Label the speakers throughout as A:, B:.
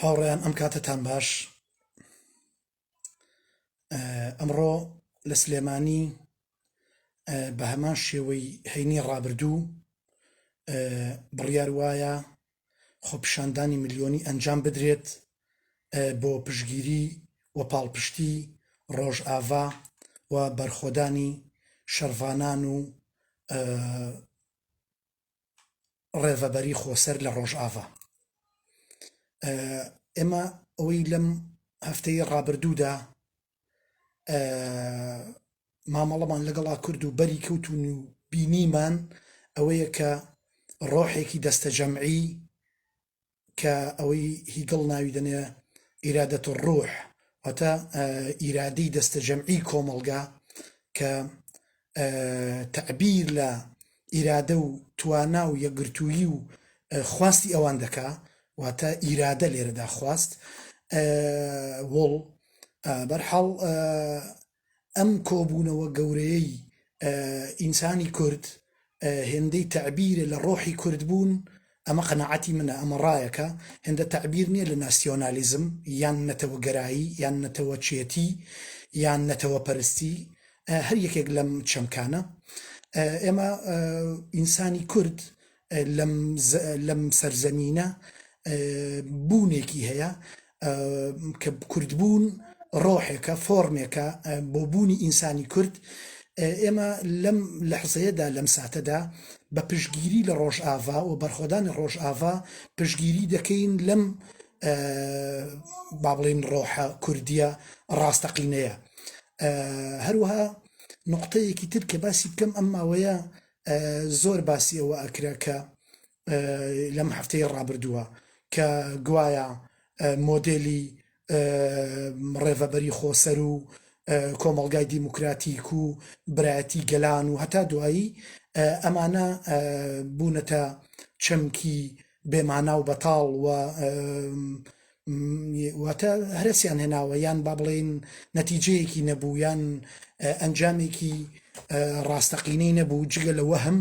A: هاوڕێیان ئەم کاتتان باش ئەمڕۆ لە سلێمانی بە هەمان شێوەی هەینی ڕابردوو بڕیار وایە خۆپیشاندانی ملیۆنی ئەنجام بدرێت بۆ پشتگیری و پاڵپشتی ڕۆژاڤا و بەرخۆدانی شەڕڤانان و ڕێڤەبەری خۆسەر لە ڕۆژاڤا. ئێمە ئەوەی لەم هەفتەی ڕابردوودا مامەڵەمان لەگەڵا کرد و بەری کەوتون و بینیمان ئەوەیە کە ڕۆحێکی دەستەجەمعی کە ئەوەی هیگڵ ناوی دەنێ ئیرادەت ڕوح واتە ئیرادەی دەستەجەمعی کۆمەڵگا کە تەعبیر لە ئیرادە و توانا و یەکگرتوویی و خواستی ئەوان دەکا، واتە ئیرادە لێرەدا خواست وڵ بەرحاڵ ئەم کۆبوونەوە گەورەیەی ئینسانی کورد هێندەی تەعبیرە لە ڕۆحی کوردبوون ئەمە قەناعەتی منە، ئەمە ڕایەکە، هێندە تەعبیر نییە لە ناسیۆنالیزم یان نەتەوەگەرایی یان نەتەوەچێتی یان نەتەوەپەرستی، هەر یەکێک لەم چەمکانە. ئێمە ئینسانی کورد لەم سەرزەمینە بوونێکی هەیە کە کوردبوون ڕۆحێکە فۆرمێکە بۆ بوونی ئینسانی کورد ئێمە لەم لە حزەیەدا لەم ساتەدا بە پشگیری لە ڕۆژئاوا و بەرخۆدانی ڕۆژئاوا پشگیری دەکەین لەم با بڵین ڕۆحە کوردیە ڕاستەقینەیە هەروەها نقطەیەکی تر کە باسی بکەم ئەم ماوەیە زۆر باسی ئەوە ئەکرا کە لەم هەفتەی ڕابردووە کە گوایە مۆدێلی ڕێڤەبەری خۆسەر و کۆمەڵگای دیموکراتیک و برایەتی گەلان و هەتا دوایی ئەمانە بوونەتە چەمکی بێمانا و بەتاڵ و واتە هەرسیان هێناوە یان با بڵێن نەتیجەیەکی نەبوو یان ئەنجامێکی ڕاستەقینەی نەبوو جگە لە وەهم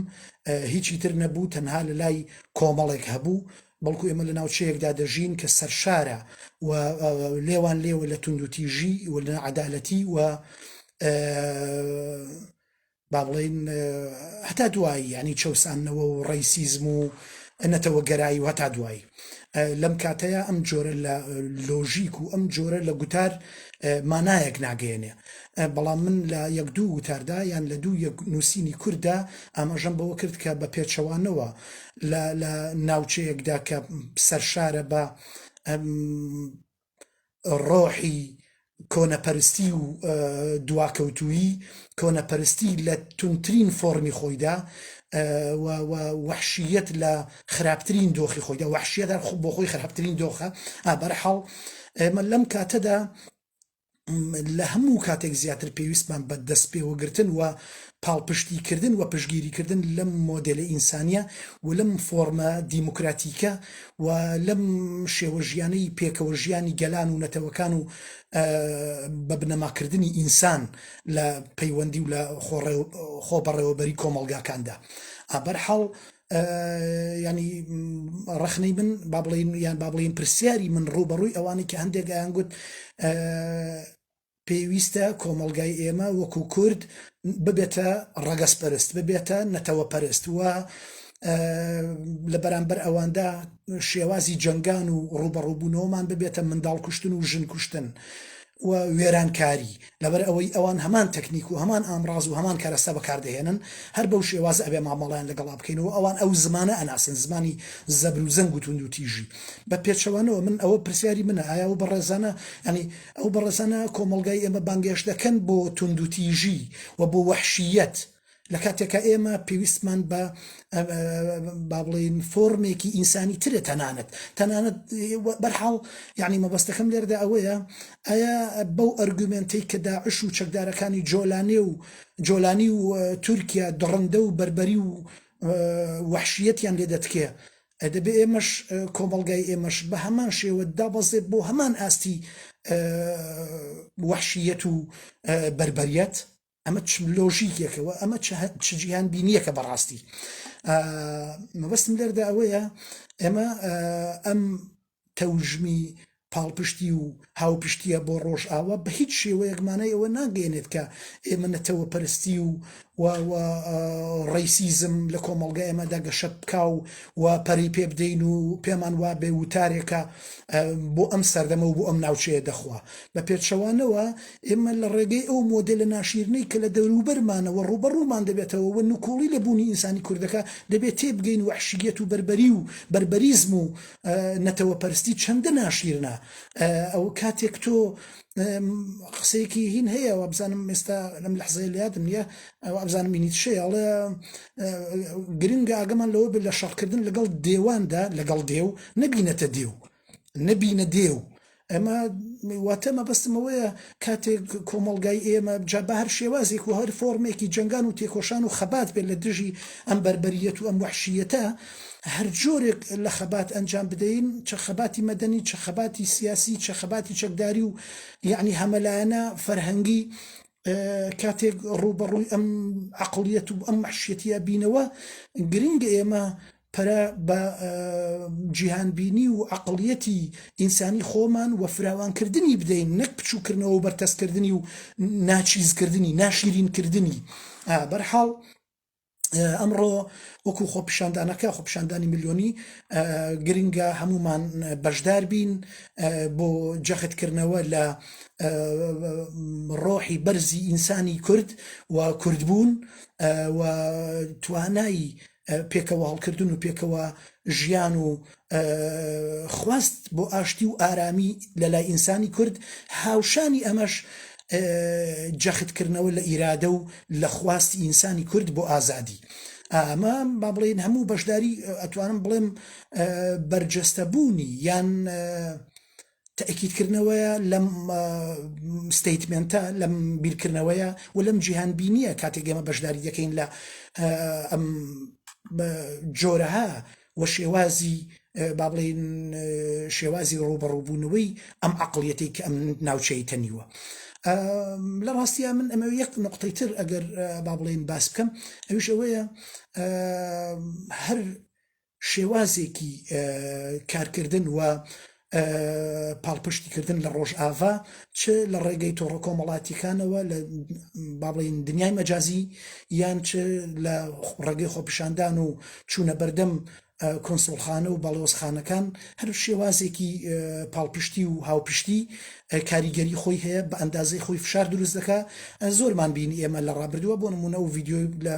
A: هیچی تر نەبوو تەنها لە لای کۆمەڵێک هەبوو بەڵکو ئێمە لە ناوچەیەکدا دەژین کە سەرشارە و لێوان لێوە لە توندوتیژی و لە عدالەتی و با بڵێین هەتا دوایی یانی چەوساندنەوە و ڕەیسیزم و نەتەوەگەرایی و هەتا دوایی لەم کاتەیە ئەم جۆرە لە لۆژیک و ئەم جۆرە لە گوتار مانایەک ناگەێنێ بەڵام من لە یەک دوو وتاردا یان لە دوو یەک نووسینی کووردا ئاماژەم بەوە کرد کە بە پێچەوانەوە لە ناوچەیەکدا کە سەرشارە بە ڕۆحی کۆنەپەرستی و دواکەوتوویی کۆنەپەرستی لە توندترین فۆڕمی خۆیدا و وەحشیەت لە خراپترین دۆخی خۆیدا وەحشیەت هەر بۆ خۆی خراپترین دۆخە بەرحاڵ ئێمە لەم کاتەدا لە هەموو کاتێک زیاتر پێویستمان بە دەستپێوەگرتن و پاڵپشتیکردن و پشتگیریکردن لەم مۆدێلە ئینسانییە و لەم فۆڕمە دیموکراتیکە و لەم شێوە ژیانەی پێکەوە ژیانی گەلان و نەتەوەکان و بە بنەماکردنی ئینسان لە پەیوەندی و لە خۆ بەڕێوەبەری کۆمەڵگاکاندا ئابەر حاڵ یانی ڕخنەی من با بڵین یان با بڵین پرسیاری من ڕوبەڕووی ئەوانی کە هەندێک ئەیان گوت پێویستە کۆمەلگای ئێمە وەکو کورد ببێتە ڕەگەز پەرست ببێتە نەتەوە پەرست و لە بەرامبەر ئەواندا شێوازی جەنگان و ڕوبەڕوبوونەوەمان ببێتە منداڵ کوشتن و ژن کوشتن. و وێرانکاری، لەبەر ئەوەی ئەوان هەمان تەکنیک و هەمان ئامڕاز و هەمان کەرەستە بەکار دەهێنن، هەر بەو شێوازە ئەبێ مامەڵەیان لەگەڵا بکەین و ئەوان ئەو زمانە ئەناسن، زمانی زەبر و زەنگ و توند و تیژی. بە پێچەوانەوە من ئەوە پرسیاری منە ئایا ئەو بەڕێزانە یانی ئەو بەڕێزانە کۆمەڵگای ئێمە بانگێشت دەکەن بۆ توند و تیژی و بۆ وەحشییەت، لە کاتێکا ئێمە پێویستمان بە با بڵێین فۆرمێکی ئینسانی ترە تەنانەت تەنانەت بەرحاڵ یعنی مەبەستەکەم لێردا ئەوەیە ئایا بەو ئەرگومنتی کە داعش و چەکدارەکانی جۆلانێ و جۆلانی و تورکیا دڕندە و بربەری و وحشیەتیان لێ دەتکێ دەبێ ئێمەش کۆمەلگای ئێمەش بە هەمان شێوە دابەزێت بۆ هەمان ئاستی وحشیەت و بربەریەت ئەمە چ لۆژیکێکە و ئەمە چ جیهان بینیەکە بەڕاستی مەبەستم لەردا ئەوەیە ئێمە ئەم تەوژمی پاڵپشتی و هاوپشتیە بۆ ڕۆژئاوا بە هیچ شێوەیەک مانای ئەوە ناگەێنێت کە ئێمە نەتەوە پەرستی و ڕیسیزم لە کۆمەڵگا ئێمەدا گەشە بکا و و پەری پێ بدەین و پێمان وا بێ وتارێکە بۆ ئەم سەردەمە و بۆ ئەم ناوچەیە دەخوا بە پێچەوانەوە ئێمە لە ڕێگەی ئەو مۆدێلە ناشیرنەی کە لە دەوروبەرمانەوە ڕووبەڕوومان دەبێتەوە و نکوڵی لە بوونی ئینسانی کورد دەکا، دەبێ تێبگەین وەحشییەت و بەربەری و بەربەریزم و نەتەوەپەرستی چەندە ناشیرنە. ئەو کاتێک تۆ قسەیەکی هین هەیە، وابزانم ئێستا لەم لەحزەیە لە یادم نییە، وابزانم مینیتشەیە، ئەڵێ گرنگە ئاگامان لەوە بێ لە شەڕکردن لەگەڵ دێواندا، لەگەڵ دێو، نەبینەتە دێو. نەبینە دێ و ئەمە واتە مەبەستم ئەوەیە کاتێک کۆمەڵگای ئێمە جا بە هەر شێوازێک و هەر فۆرمێکی جنگان و تێکۆشان و خەبات بێت لە دژی ئەم بربەریەت و ئەم وحشیەتە هەر جۆرێک لە خەبات ئەنجام بدەین چە خەباتی مەدەنی چە خەباتی سیاسی چە خەباتی چەکداری و یعنی هەمەلایەنە فەرهەنگی کاتێک ڕوبەڕووی ئەم عقلیەت و ئەم محشێتە بینەوە گرنگ ئێمە پەرە بە جیهانبینی و عەقڵیەتی ئینسانی خۆمان و فراوانکردنی بدەین نەک بچوکردنەوە و بەرتەسکردنی و ناچیزکردنی، ناشیرینکردنی. بەرحاڵ ئەمڕۆ وەکو خۆپیشاندانەکە خۆپیشاندانی ملیۆنی گرنگە هەمومان بەشداربین بۆ جەختکردنەوە لە ڕۆحی بەرزی ئینسانی کورد و کوردبوون و توانای پێکەوەهەڵکردن و پێکەوە ژیان و خواست بۆ ئاشتی و ئارامی لە لای ئینسانی کورد، هاوشانی ئەمەش جەختکردنەوە لە ئیرادە و لە خواستی ئینسانی کورد بۆ ئازادی. ئەمە با بڵێین هەموو بەشداری ئەتوانم بڵێم بەرجەستەبوونی یان تەئکیدکردنەوەیە لەم ستەیتمێنتە لەم بیرکردنەوەیە و لەم جیهان بینییە کاتێک ئێمە بەشداری دەکەین لە ئەم جۆرەها و شێوازی با بڵێن شێوازی ڕوبەڕووبوونەوەی ئەم عقلیەتی کە ئەم ناوچەی تەنیوە لە ڕاستە من ئەمە یەک نقطەی تر ئەگەر با بڵێن باس بکەم ئەوش ئەوەیە هەر شێوازێکی کارکردن و پاڵپشتیکردن لە ڕۆژاڤا چ لە ڕێگەی تۆڕە کۆمەڵاتیەکانەوە لە با بڵین دنیای مەجازی یان چ لە ڕێگەی خۆپیشاندان و چوونە بەردەم کۆنسڵخانە و بەڵێۆزخانەکان هەر شێوازێکی پاڵپشتی و هاوپشتی کاریگەری خۆی هەیە بە ئەندازەی خۆی فشار دروست دەکە زۆرمان بینی ئێمە لە ڕابردووە بۆ نمونە و ڤیددیو لە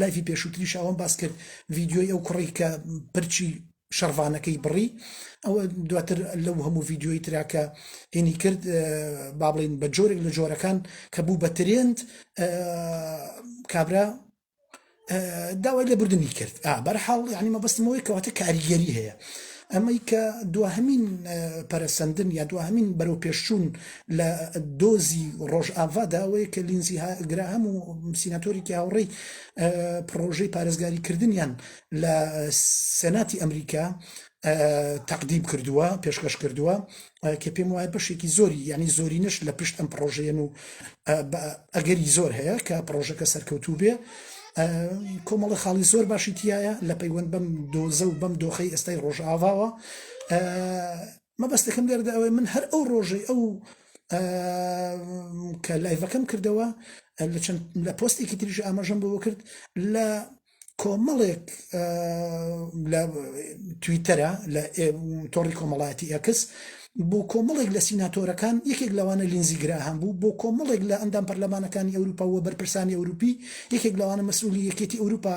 A: لایفی پێشووتریش ئەوم باس کرد ڤیدیۆی ئەو کوڕەی کە پرچی شەڕڤانەکەی بڕی ئەوە دواتر لەو هەموو ڤیددیۆی تراکە هینی کرد با بڵین بە جۆرێک لە جۆرەکان کە بوو بە ترێند کابرا داوای لە بردننی کرد بەرحاڵ ینی مەبستمەوەی کەواتە کاریگەری هەیە ئەمەی کە دواهمین پەرسەندن یا دواهمین بەرەو پێشچوون لە دۆزی ڕۆژ ئاڤادا ئەوەیە کە لینزی گراهەم و سیناتۆریکی هاوڕێی پڕۆژەی پارێزگاری کردنیان لە سێناتی ئەمریکا تەقدیم کردووە پێشکەش کردووە کە پێم وایە بەشێکی زۆری ینی زۆرینش لە پشت ئەم پڕۆژەیەن و ئەگەری زۆر هەیە کە پڕۆژەکە سەرکەوتوو بێ کۆمەڵە خاڵی زۆر باشی تایە لە پەیوەند بەم دۆزە و بەم دۆخی ئێستای ڕۆژئاواوە مەبەستەکەم لێرەدا ئەوەیە من هەر ئەو ڕۆژەی ئەو کە لایڤەکەم کردەوە لە چەند لە پۆستێکی تریش ئاماژەم بۆ کرد لە کۆمەڵێک لە تویتەرە لە تۆڕی کۆمەڵایەتی ئەکس بۆ کۆمەڵێک لە سیناتۆرەکان یەکێک لەوانە لینزی گراهام بوو بۆ کۆمەڵێک لە ئەندام پەرلەمانەکانی ئەوروپا و بەرپرسانی ئەوروپی یەکێک لەوانە مەسئولی یەکێتی ئەوروپا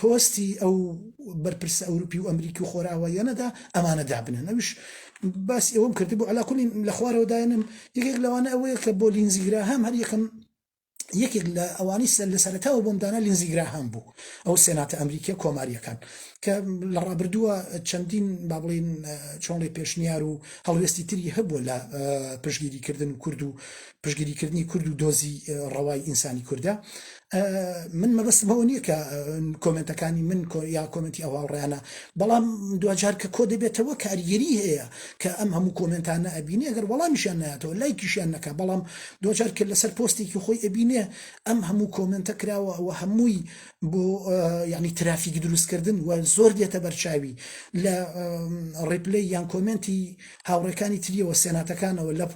A: پۆستی ئەو بەرپرسە ئەوروپی و ئەمریکی و خۆراواییانەدا ئەمانە دابنن ئەوش باس ئەوم کرد بۆ علاکولی لە خوارەوەدایەنم یەکێک لەوانە ئەوەیە کە بۆ لینزیگرا هەم هەر یەکەم یەکێک لە ئەوانی سەر لە سەرتاوە بۆم دانا لینزیگرا هەم بوو ئەو سێناتە ئەمریکیە کۆماریەکان کە لە ڕابردووە چەندین بابلین چۆنڵی پێشنیار و هەڵوێستی تری هەبووە لە پشگیریکردن کورد و پشگیریکردنی کورد و دۆزی ڕەوای ئینسانی کووردە من مەبەستم بەوە نییە کە کۆمنتەکانی من یا کۆمنتی ئەو هاوڕیانە بەڵام دوجار کە کۆ دەبێتەوە کاریگەری هەیە کە ئەم هەموو کۆمنتانە ئەبینێ گەر وەڵامیشیان ناتەوە لای کیشیان نەکە بەڵام دوجار کە لەسەر پۆستێکی خۆی ئەبینێ ئەم هەموو کۆمنتە کراوە ئەوە هەمووی بۆ ینی ترافیک دروستکردن و زۆر دێتە بەرچاوی لە ڕیپلی یان کۆمنتی هاوڕێکانی تریەوە سێناتەکانەوە لە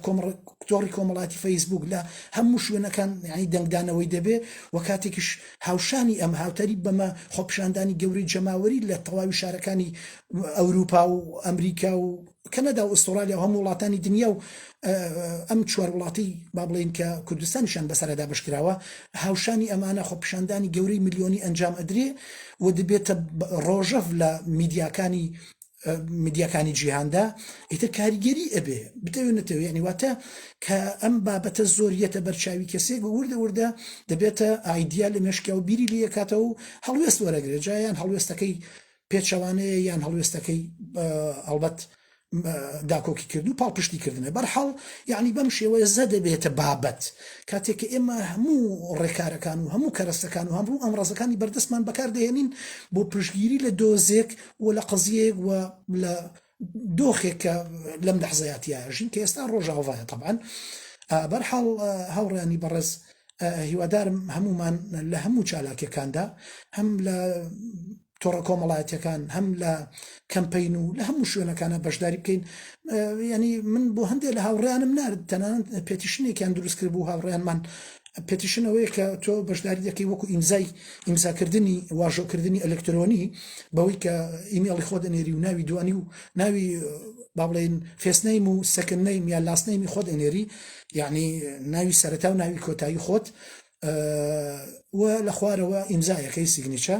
A: تۆڕی کۆمەڵاتی فەیسبووک لە هەموو شوێنەکان یانی دەنگدانەوەی دەبێ و کاتێکیش هاوشانی ئەم هاوتەریب بەمە خۆپیشاندانی گەورەی جەماوەری لە تەواوی شارەکانی ئەوروپا و ئەمریکا و کەنەدا و ئوسترالیا و هەموو وڵاتانی دنیا و ئەم چوار وڵاتی با بڵێن کە کوردستانیشان بەسەرە دابش کراوە هاوشانی ئەمانە خۆپیشاندانی گەورەی ملیۆنی ئەنجام ئەدرێ و دەبێتە ڕۆژەف لە میدیاکانی میدیاکانی جیهاندا ئیتر کاریگەری ئەبێ بتەوێت نەتەوێت یعنی واتە کە ئەم بابەتە زۆر یەتە بەرچاوی کەسێک وردە وردە دەبێتە ئایدیا لە مێشکیا و بیری لەکاتەوە و هەڵوێست وەرەگرێت جایان هەڵوێستەکەی پێچەوانەیە یان هەڵوێستەکەی ئەڵبەت داکۆکی کرد و پاڵپشتی کردنە بەرحاڵ یعنی بەم شێوەیە زە دەبێتە بابەت کاتێک کە ئێمە هەموو ڕێکارەکان و هەموو کەرەستەکان و هەمڕوو ئەم ڕزەکانی بەردەستمان بەکاردەێنین بۆ پشگیری لە دۆزێک و و لە قەزیەیەک و لە دۆخێک کە لەم لەحزەیا تیایە ژین کە ئێستا ڕۆژاڤایە تەبعەن ئا بەرحاڵ هاوڕێیانی بەڕێز هیوادارم هەمومان لە هەموو چالاکیەکاندا هەم لە تۆڕە کۆمەڵایەتەکان هەم لە کەمپین و لە هەموو شوێنەکانە بەشداری بکەین ینی من بۆ هەندێک لە هاوڕیانم نرد تەنان پێتیشنێکیان دروستکرد بوو هاوڕیانمان پێتیشن ئەوەیە کە تۆ بەشداری دەکەی وەکو ئیمزای ئیمزاکردنی واژۆکردنی ئەلکترۆنی بەوەی کە ئیمێڵی خۆ دەنێری و ناوی دوانی و ناوی با بڵێن فێسنەیم و سەکن نەیم یا لاسنەیمی خۆ دەنێری یعنی ناوی سەرتا و ناوی کۆتایی خۆت و لە خوارەوە ئیمزایەکەی سیگنیچە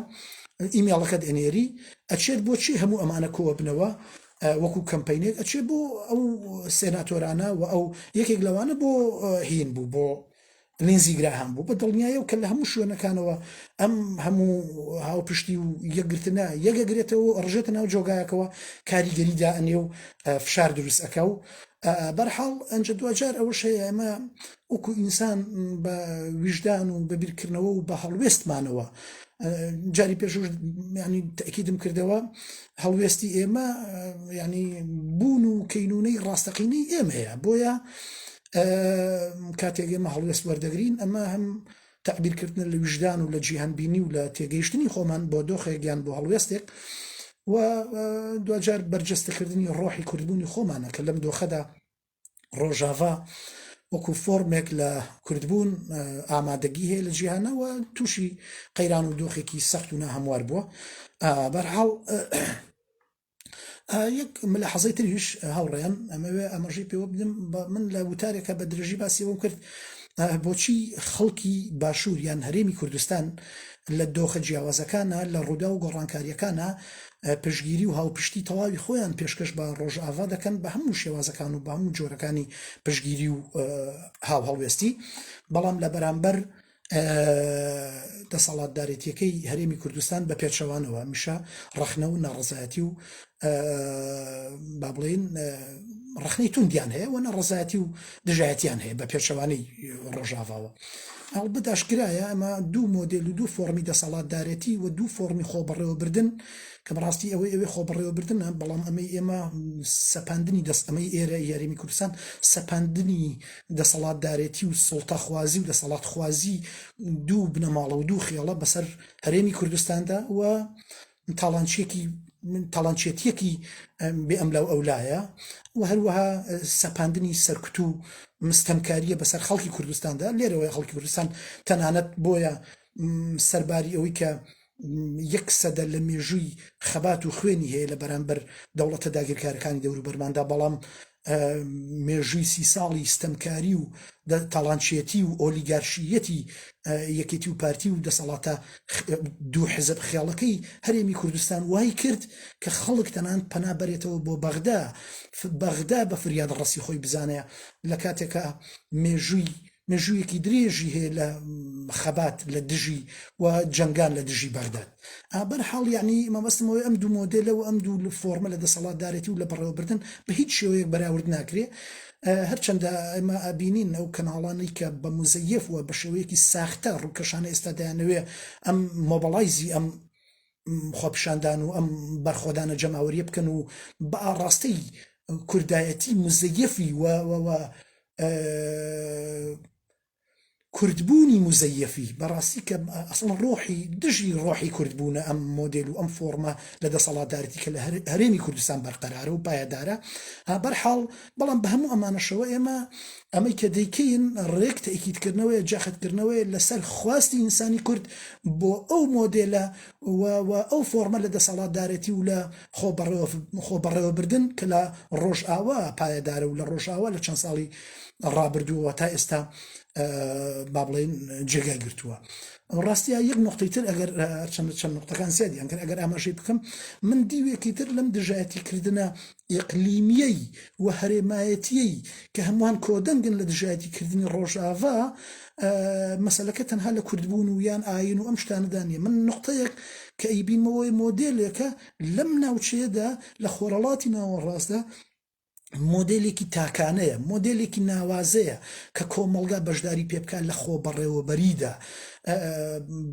A: ئیمێڵەکەت ئەنێری ئەچێت بۆچی هەموو ئەمانە کۆوە بنەوە وەکو کەمپەینێک ئەچێ بۆ ئەو سێناتۆرانە و ئەو یەکێک لەوانە بۆ هین بوو بۆ لینزی گراهام بوو بە دڵنیایە و کە لە هەموو شوێنەکانەوە ئەم هەموو هاوپشتی و یەکگرتنە یەگەگرێتەوە ڕژێتە ناو جۆگایەکەوە کاریگەری دائەنێ و فشار دروست ئەکا و بەرحاڵ ئەنج دوجار ئەوەش هەیە ئەمە وەکو ئینسان بە ویژدان و بە بیرکردنەوە و بە هەڵوێستمانەوە جاری پێشوش ینی تاکیدم کردەوە هەڵوێستی ئێمە ینی بوون و کەینونەی ڕاستەقینەی ئێمەیە بۆیە کاتێک ئێمە هەڵوێست وەردەگرین ئەمە هەم تعبیرکردن لە وژدان و لە جیهانبینی و لە تێگەیشتنی خۆمان بۆ دۆخێکیان بۆ هەڵوێستێک و دوجار بەرجەستەکردنی ڕۆحی کوردبوونی خۆمانە کە لەم دۆخەدا ڕۆژاڤا وەکو فۆرمێک لە کوردبوون ئامادەگی هەیە لە جیهانەوە تووشی قەیران و دۆخێکی سەخت و ناهموار بووە بەرحاڵ یەک ملە حەزەی تریش هاوڕێن ئەمەوێ ئەمەژی پێوە بدەم من لە وتارێکە بە درێژی باسیەوەم کرد بۆچی خەڵکی باشوور یان هەرێمی کوردستان لە دۆخە جیاوازەکانە لە ڕوودا و گۆڕانکاریەکانە پشتگیری و هاوپشتی تەواوی خۆیان پێشکەش بە ڕۆژاڤا دەکەن بە هەموو شێوازەکان و بە هەموو جۆرەکانی پشتگیری و هاوهەڵوێستی بەڵام لە بەرامبەر دەسەڵاتدارێتیەکەی هەرێمی کوردستان بە پێچەوانەوە میشە ڕەخنە و ناڕزایەتی و با بڵێن ڕخنەی توندیان هەیە و نەڕزایەتی و دژایەتیان هەیە بە پێچەوانەی ڕۆژاڤاوە هەڵبەت ئاشکرایە ئەمە دوو مۆدل و دوو فۆرمی دەسەڵاتدارەتی و دوو فۆرمی خۆبڕێوەبردن کە بەڕاستی ئەوەی ئەوێ خۆبڕێوەبردنە بەڵام ئەمەی ئێمە سەپاندنی دەستەمەی ئێرە یاریمی کوردستان سەپاندنی دەسەڵاتدارێتی و سڵتەخوازی و دەسەڵات خوازی دوو بنەماڵە و دوو خێڵە بەسەر هەرێمی کوردستاندا و تاڵانچیەکی تاڵانچێتیەکی بێ ئەم لاو ئەو لایە و هەروەها سەپاندنی سەرکوت و مستەمکاریە بەسەر خەڵکی کوردستاندا لێرەوەی خەڵکی کوردستان تەنانەت بۆیە سەرباری ئەوەی کە یەک سەدە لە مێژووی خەبات و خوێنی هەیە لە بەرامبەر دەوڵەتە داگیرکارەکانی دەوروبەرماندا بەڵام مێژووی سی ساڵی ستەمکاری و تاڵانچێتی و ئۆلیگارشییەتی یەکێتی و پارتی و دەسەڵاتە دوو حزب خێڵەکەی هەرێمی کوردستان وای کرد کە خەڵک تەنان پەنا بەرێتەوە بۆ بەغدا بەغدا بە فریاد ڕەسی خۆی بزانێ لە کاتێکا مێژووی مێژوویەکی درێژی هەیە لە خەبات لە دژی و جەنگان لە دژی بەغداد ئابەر حاڵ یعنی مەبەستمەوەی ئەم دوو مۆدێلە و ئەم دوو فۆرمە لە دەسەڵاتدارێتی و لە بەڕێوەبردن بە هیچ شێوەیەک بەراورد ناکرێ هەرچەندە ئەمە ئابینین ئەو کەناڵانەی کە بە مزەیف وە بە شێوەیەکی ساختە ڕووکەشانە ئێستا دایانەوێ ئەم مۆبەڵایزی ئەم خۆپیشاندان و ئەم بەرخۆدانە جەماوەریە بکەن و بە ئاڕاستەی کوردایەتی مزەیەفی و کوردبوونی مزەیەفی بەڕاستی کە ئەسڵ ڕۆحی دژی ڕۆحی کوردبوونە ئەم مۆدل و ئەم فۆرمە لە دەسەڵاتدارەتی کە لە هەرێمی کوردستان بەرقەرارە و پایەدارە بەرحاڵ بەڵام بە هەموو ئەمانەشەوە ئێمە ئەمەی کە دەیکەین ڕێک تەئکیدکردنەوەیە جاخدکردنەوەیە لەسەر خواستی ئینسانی کورد بۆ ئەو مۆدێلە و ئەو فۆرمە لە دەسەڵاتدارێتی و لە خۆبەڕێوەبردن کە لە ڕۆژئاوا پایەدارە و لە ڕۆژئاوا لە چەند ساڵی ڕابردووەوە تا ئێستا با بڵێن جێگای گرتووە ڕاستە یەک نقطەی تر ئەگەر چەند چەند نقطەکان زیادیان کرد ئەگەر ئاماژەی بکەم من دیوێکی تر لەم دژایەتی کردنە ئیقلیمیی و هەرێمایەتیی کە هەمووان کۆدەنگن لە دژایەتی کردنی ڕۆژاڤا، مەسەلەکە تەنها لە کوردبوون و یان ئایین و ئەم شتانەدا نییە. من نوقتەیەک کە ئەیبینمەوەێ مۆدێلێکە لەم ناوچەیەدا لە خۆرهەڵاتی ناوەڕاستدا مۆدێلێکی تاکانەیە، مۆدێلێکی ناوازەیە کە کۆمەڵگا بەشداری پێ بکا لە خۆبەڕێوەبەرییدا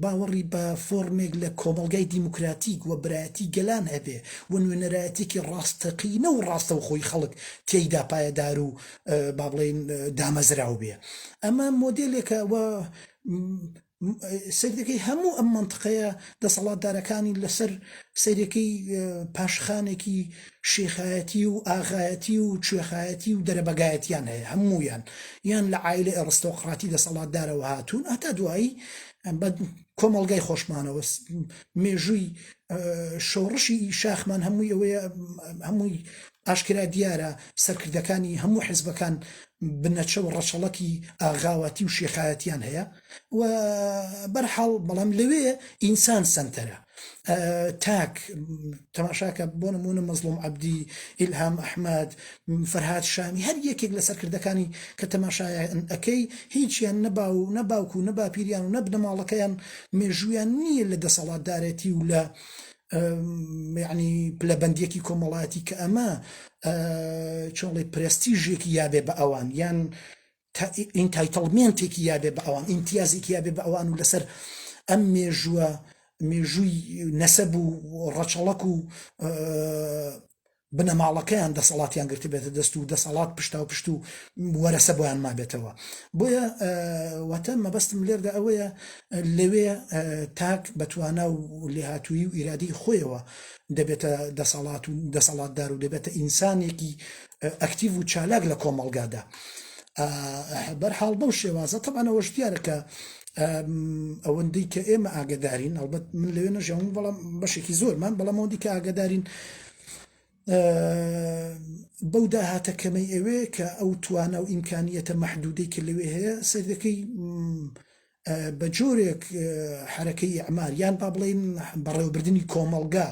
A: باوەڕی بە فۆڕمێک لە کۆمەڵگای دیموکراتیک و برایەتی گەلان هەبێ و نوێنەرایەتیەکی ڕاستەقینە و ڕاستەوخۆی خەڵک تێیدا پایەدار و با بڵێین دامەزراو بێ ئەمە مۆدێلێکە و سەیرەکەی هەموو ئەم منطقەیە دەسەڵاتدارەکانی لەسەر سەیرەکەی پاشخانێکی شیخایەتی و ئاغایەتی و کوێخایەتی و دەرەبەگایەتیان هەیە، هەموویان یان لە عایلەی ئەڕستۆقڕاتی دەسەڵاتدارەوە هاتوون، هەتا دوایی بە کۆمەڵگای خۆشمانەوە مێژووی شۆڕشی شاخمان هەمووی ئەوەیە هەمووی ئاشکرا دیارە سەرکردەکانی هەموو حزبەکان بنەچە و ڕەچەڵەکی ئاغاواتی و شێخایەتیان هەیە و بەرحاڵ بەڵام لەوێ ئینسان سەنتەرە. تاک تەماشاکە بۆ نمونە مەزلوم عەبدی ئیلهام ئەحمەد فەرهاد شامی هەر یەکێک لە سەرکردەکانی کە تەماشایان ئەەکەی هیچیان نەبا و نەباوک و نەباپیریان و نەبنەماڵەکەیان مێژویان نییە لە دەسەڵاتدارێتی و لە ینی پلەبندێکی کۆمەڵاتی کە ئەمە چۆڵی پرستیژێکی یابێ بە ئەوان یان تا ئینتایتڵمێنتێکی یا بێ بە ئەوان، ئیمتیازێکی یا بێ بە ئەوان و لەسەر ئەم مێژووە، مێژووی نەسەب و ڕەچەڵەک و بنەماڵەکەیان دەسەڵاتیان گرتبێتە دەست و دەسەڵات پشتاوپشت و وەرەسە بۆیان مابێتەوە. بۆیە واتە مەبەستم لێردا ئەوەیە لەوێ تاک بە توانا و لێهاتوویی و ئیرادەی خۆیەوە دەبێتە دەسەڵات و دەسەڵاتدار و دەبێتە ئینسانێکی ئەکتیڤ و چالاک لە کۆمەڵگادا بەرحاڵ بەو شێوازە تەمانەوەش دیارە کە ئەوەندەی کە ئێمە ئاگدارین ئەڵبەت من لەوێ نەژەون بەڵام بەشێکی زۆرمان بەڵام ئەوەندی کە ئاگدارین بەو داهاتە کەمەی ئەوێ کە ئەو توانە و ئیمکانیەتە مەحدودەی کە لەوێ هەیە سەردەکەی بە جۆرێک حەرەکەی ئەعمار یان با بڵین بەڕێوەبردننی کۆمەڵگا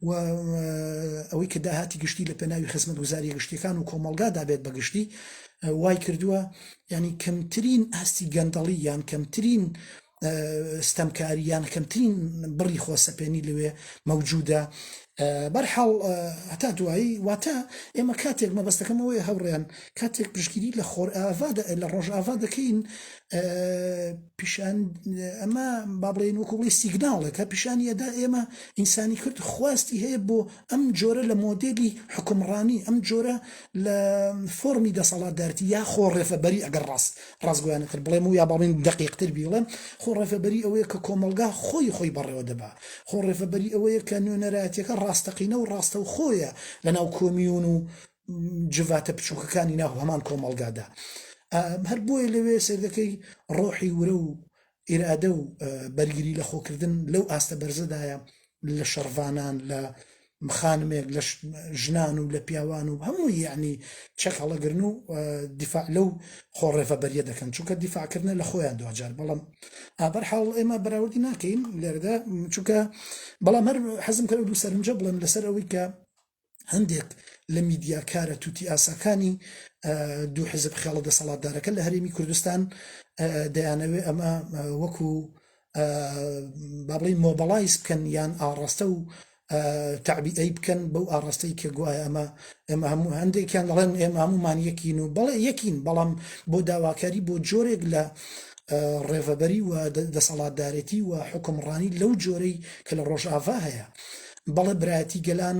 A: و ئەوەی کە داهاتی گشتی لە پێناوی خزمەت گوزاریە گشتیەکان و کۆمەلگا دابێت بە گشتی وای کردووە ینی کەمترین ئاستی گەندەڵی یان کەمترین ستەمکاریان کەمترین بڕی خۆسەپێنی لەوێ مەوجودە بەرحاڵ هەتا دوایی واتە ئێمە کاتێک مەبەستەکەمەوەی هەوڕێن کاتێک پشگیری لە خۆر ئاوا لە ڕۆژ ئاوا دەکەین پیشان ئەمە با بڵێن وەکو بڵی سیگناڵێکە پیشانی ئەدا ئێمە ئینسانی کرد خواستی هەیە بۆ ئەم جۆرە لە مۆدێلی حکمڕانی ئەم جۆرە لە فۆمی دەسەڵاتدارتی یا خۆ ڕێفەبەری ئەگەر ڕاست ڕاستگویانەتر بڵێم و یا باڵین دقیقتر بیڵێم خۆ ڕێفەبەری ئەوەیە کە کۆمەلگا خۆی خۆی بەڕێوە دەبا خۆ ڕێفەبەری ئەوەیە کە نوێنەرایەتەکە ڕاستەقینە و ڕاستە و خۆیە لەناو کۆمیون و جڤاتە بچووکەکانی ناو هەمان کۆمەڵگادا هەر بۆیە لەوێ سێردەکەی ڕۆحی ورە و ئیرادە و بەرگری لە خۆکردن لەو ئاستە بەرزەدایە لە شەڕڤانان لە مخانمێک لە ژنان و لە پیاوان و هەموو یعنی چەک هەڵەگرن و دیفاع لەو خۆڕێفە بەریە دەکەن چونکە دیفاعکردە لە خۆیان دواجار بەڵام ئابەر حاڵ ئێمە بەراوردی ناکەین لێرەدا چونکە بەڵام هەر حەزم کرد و سەرنجە بڵێن لەسەر ئەوەی کە هەندێک لە میدیاکارە توتی ئاساکانی دوو حزب خێڵە دەسەڵاتدارەکە لە هەرێمی کوردستان دەیانەوێ ئەمە وەکو بابڵی مۆبەڵایز بکەن یان ئاڕاستە و تعبیئی بکەن بەو ئاڕاستەی کە گوایە ئەمە ئێمە هەموو هەندێکیان دەڵێن ئێمە هەمومان یەکین و بەڵێ یەکین بەڵام بۆ داواکاری بۆ جۆرێک لە ڕێڤەبەری و دەسەڵاتدارێتی و حکمڕانی لەو جۆرەی کە لە ڕۆژاڤا هەیە بەڵێ برایەتی گەلان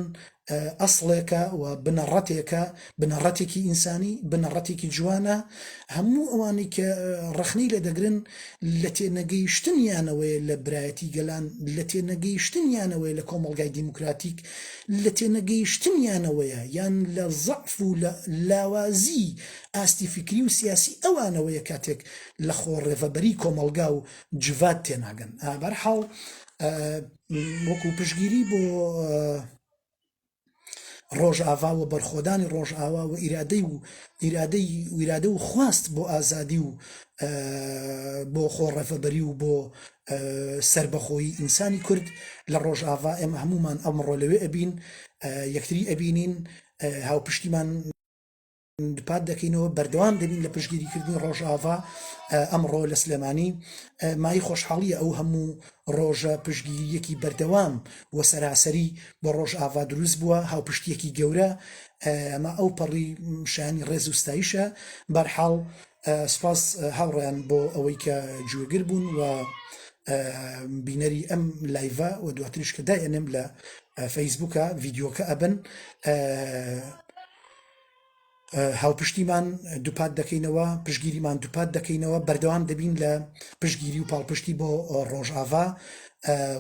A: ئەسڵێکە و بنەڕەتێکە، بنەڕەتێکی ئینسانی، بنەڕەتێکی جوانە، هەموو ئەوانەی کە ڕەخنەی لێ دەگرن لە تێنەگەیشتنیانەوەیە لە برایەتی گەلان، لە تێنەگەیشتنیانەوەیە لە کۆمەڵگای دیموکراتیک، لە تێنەگەیشتنیانەوەیە یان لە زەعف و لە لاوازیی ئاستی فیکری و سیاسی ئەوانەوەیە کاتێک لە خۆ ڕێڤەبەریی کۆمەڵگا و جڤات تێناگەن. بەرحاڵ. وەکو پشگیری بۆ ڕۆژاڤا و بەرخۆدانی ڕۆژئاوا و ئیرادەی و ئیرادەی ویرادە و خواست بۆ ئازادی و بۆ خۆڕەفەبەری و بۆ سربەخۆی ئینسانی کورد لە ڕۆژاڤا ئێمە هەمومان ئەمڕۆ لەوێ ئەبین یەکتری ئەبینین هاوپشتیمان دوپات دەکەینەوە بەردەوام دەبین لە پشگیریکردنی ڕۆژاڤا ئەمڕۆ لە سلێمانی مای خۆشحاڵیە ئەو هەموو ڕۆژە پشگیریەکی بەردەوام و سەراسەری بۆ ڕۆژاڤا دروست بووە هاوپشتیەکی گەورە ئەمە ئەو پەڕی شانی ڕێز و ستایشە بەرحاڵ سپاس هاوڕیان بۆ ئەوەی کە گوێگر بوون و بینەری ئەم لایڤە و دواتریش کە داێنم لە فەیسبوکە ڤیددیوکە ئەبن هاوپشتیمان دووپات دەکەینەوە پشگیریمان دووپات دەکەینەوە بەردەوام دەبین لە پشگیری و پاڵپشتی بۆ ڕۆژاڤا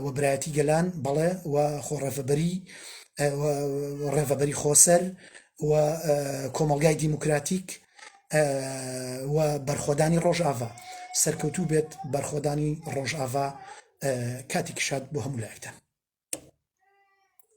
A: و برایەتی گەلان بەڵێ و خۆڕێفەبەری ڕێڤەبەری خۆسەر و کۆمەلگای دیموکراتیک و بەرخۆدانی ڕۆژاڤا سەرکەوتوو بێت بەرخۆدانی ڕۆژاڤا کاتی کشاد بۆ هەموو لایەکتان